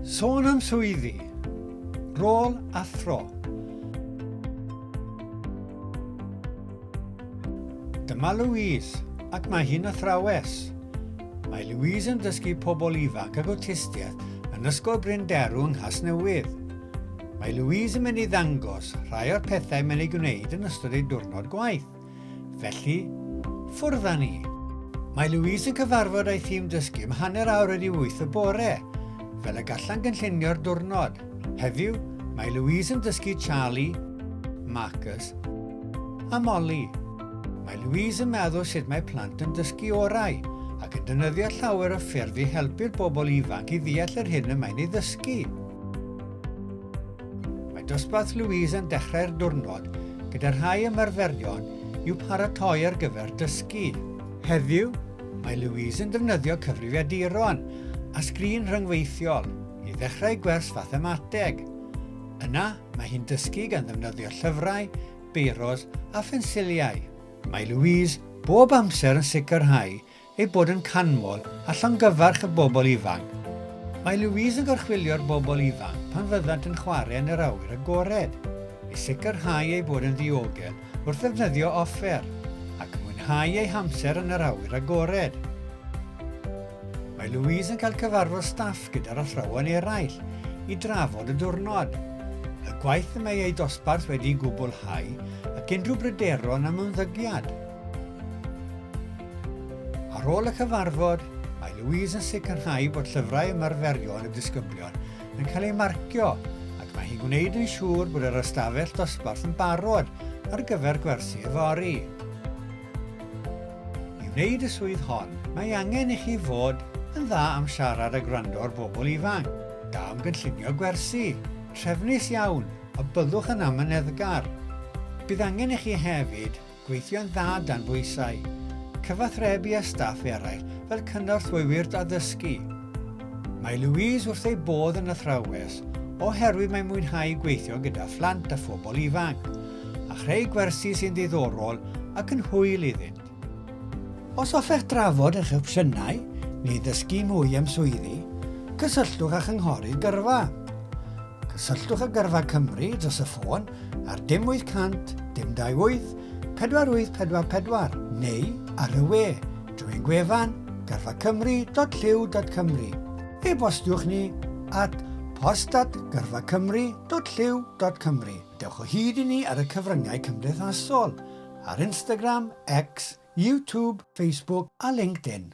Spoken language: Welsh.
Sôn am swyddi, rôl a thro. Dyma Louise, ac mae hi'n athrawes. Mae Louise yn dysgu pobl ifanc ag awtistiaeth yn Ysgol Bryn Derw yng Nghasnewydd. Mae Louise yn mynd i ddangos rhai o'r pethau mae'n ei gwneud yn ystod ei diwrnod gwaith. Felly, ffwrdd â ni! Mae Louise yn cyfarfod â'i thîm dysgu am hanner awr wedi wyth y bore, fel y gallan gynllunio'r diwrnod. Heddiw, mae Louise yn dysgu Charlie, Marcus a Molly. Mae Louise yn meddwl sut mae plant yn dysgu orau ac yn dynyddio llawer o ffyrdd i helpu'r bobl ifanc i ddeall yr hyn y mae'n ei ddysgu. Mae dosbarth Louise yn dechrau'r diwrnod gyda rhai ymarferion i'w paratoi ar gyfer dysgu. Heddiw, mae Louise yn defnyddio cyfrifiaduron a sgrin rhyngweithiol i ddechrau gwers fathemateg. Yna, mae hi'n dysgu gan ddefnyddio llyfrau, beiros a phensiliau. Mae Louise bob amser yn sicrhau ei bod yn canmol a llongyfarch y bobl ifanc. Mae Louise yn gorchfylio'r bobl ifanc pan fyddant yn chwarae yn yr awyr agored, i sicrhau eu bod yn ddiogel wrth ddefnyddio offer, ac mwynhau eu hamser yn yr awyr agored. Mae Louise yn cael cyfarfod staff gyda'r athrawon eraill i drafod y diwrnod, y gwaith y mae eu dosbarth wedi'i gwblhau ac unrhyw bryderon am ymddygiad. Ar ôl y cyfarfod, mae Louise yn sicrhau bod llyfrau ymarferion y disgyblion yn cael eu marcio ac mae hi'n gwneud yn siŵr bod yr ystafell dosbarth yn barod ar gyfer gwersi yfory. I wneud y swydd hon, mae angen i chi fod yn dda am siarad a gwrando ar bobl ifanc, da am gynllunio gwersi, trefnus iawn a byddwch yn amyneddgar. Bydd angen i chi hefyd Gweithio'n dda dan bwysau. Cyfathrebu â staff eraill fel cynorthwywyr addysgu. Mae Louise wrth ei bodd yn athrawes oherwydd mae'n mwynhau gweithio gyda phlant a phobl ifanc, a chreu gwersi sy'n ddiddorol ac yn hwyl iddynt. Os hoffech drafod eich opsiynau neu ddysgu mwy am swyddi, cysylltwch â Chynghorydd Gyrfa. Cysylltwch â Gyrfa Cymru dros y ffôn ar dim 800 dim 28 4844 neu ar y we drwy ein gwefan gyrfacymru.llyw.cymru. E-bostiwch ni at post@gyrfacymru.llyw.cymru. Dewch o hyd i ni ar y cyfryngau cymdeithasol, ar Instagram, X, YouTube, Facebook a LinkedIn.